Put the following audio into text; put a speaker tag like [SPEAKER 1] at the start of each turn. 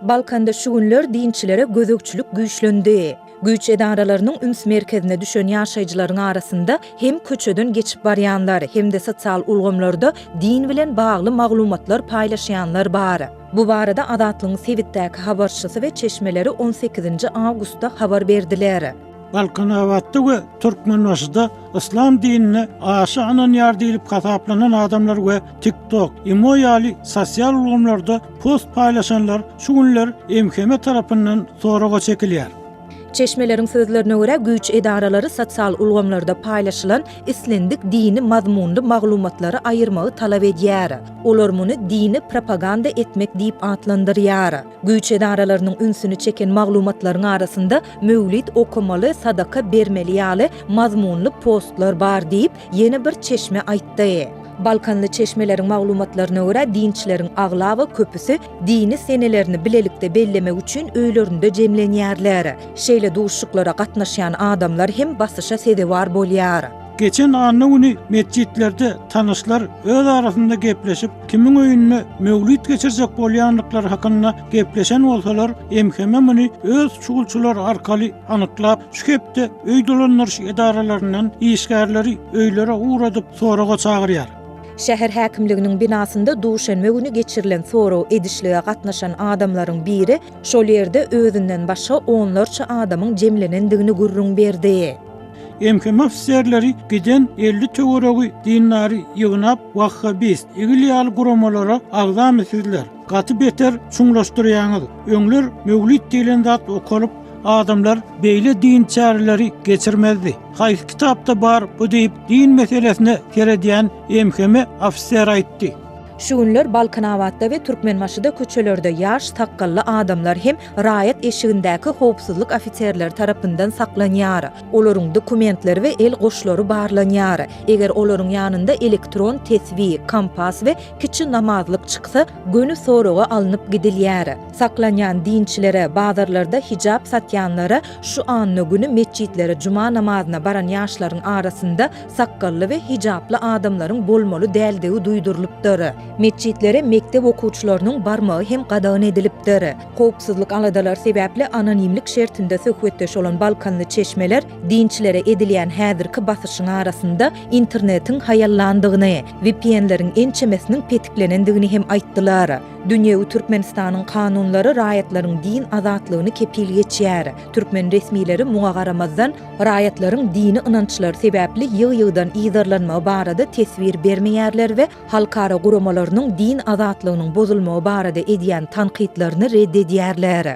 [SPEAKER 1] Balkanda şu günler dinçilere gözegçilik güýçlendi. Güýç edaralarynyň üns merkezine düşen ýaşaýjylaryň arasynda hem köçeden geçip barýanlar, hem-de sosial ulgamlarda din bilen bagly maglumatlar paýlaşýanlar bar. Bu barada Azatlygyň sebitdäki habarçysy we çeşmeleri on sekizinji awgustda habar berdiler. Balkanabatda
[SPEAKER 2] we Türkmenbaşyda yslam dinine aşa ynanýar diýlip hasaplanan adamlar we TikTok, Imo ýaly sosial ulgamlarda Post paýlaşanlar şu günler MHM tarapyndan soraga çekilýär. Çeşmeleriň
[SPEAKER 1] sözlerine görä, güýç edaralary sosial ulgamlarda paýlaşylan islendik dini mazmunly maglumatlary aýyrmagy talap edýär. Olar muny dini propaganda etmek diýip atlandyrýar. Güýç edaralarynyň ünsüni çeken maglumatlaryň arasynda möwlid okamaly, sadaka bermeli ýaly mazmunly postlar bar diýip, Ýene bir çeşme aýtdy. Balkanly çeşmeleriň maglumatlaryna görä, dinçleriň aglaba köpüsi dini senelerini bilelikde bellemek üçin öýlerinde jemlenýärler. Şeýle duşuşyklara gatnaşýan adamlar hem basyşa sezewar bolýar. Geçen anna
[SPEAKER 2] güni metjitlerde tanyşlar öz arasynda gepleşip, kimiň öýünde möwlüt geçirjek bolýandyklary hakynda Gepleşen bolsalar, MHM muny öz çugulçylary arkaly anyklap, şu hepde öý dolandyryş edaralaryndan işgärleri öýlere ugradyp, soraga çagyrýar. Şäher
[SPEAKER 1] häkimliginiň binasynda duşenbe güni geçirilen sorag edişlige gatnaşan adamlaryň biri şol ýerde özünden başga onlarça adamyň jemlenendigini gürrüň berdi. MHM
[SPEAKER 2] ofiserleri giden elli töweregi dindary ýygnap, wahhabist, igl ýaly guramalara agzamy sizler? Gaty beter çuňlaşdyrýaňyz. Öňler möwlid diýlen zat okalyp, adamlar beýle din çäreleri geçirmezdi. Haýsy kitapda bar bu diýip din meselesine seredýän MHM ofiser aýtdy. Şu günler
[SPEAKER 1] Balkanabatda we Türkmenbaşyda köçelerde ýaş sakgally adamlar hem raýat eşigindäki howpsuzlyk ofiserleri tarapyndan saklanýar. Olaryň dokumentleri we el goşlary barlanýar. Eger olaryň ýanynda elektron tesbi, kompas we Kiçi namazlyk çyksa, göni soraga alnyp gidilýär. Saklanýan dinçilere, bazarlarda hijap satýanlara, şu anna güni metjitlere juma namazyna baran ýaşlaryň arasynda sakgally we hijaply adamlaryň bolmaly däldigi duýdurylypdyr. Metjitlere mekdep okuwçylarynyň barmagy hem gadagan edilipdir. Howpsuzlyk aladalary sebäpli anonimlik şertinde söhbetdeş bolan balkanly çeşmeler, Dinçilere edilýän häzirki basyşyň arasynda internetiň haýallandygyny, VPN-leriň ençemesiniň petiklenendigini hem aýtdylar. Dünýewi Türkmenistanyň kanunlary raýatlaryň din azatlygyny kepil geçýär. Türkmen resmileri muňa garamazdan, raýatlaryň dini ynançlary sebäpli ýygy-ýygydan yzarlanmagy barada teswir bermeýärler we halkara guramalarynyň din azatlygynyň bozulmagy barada edýän tankytlaryny red edýärler.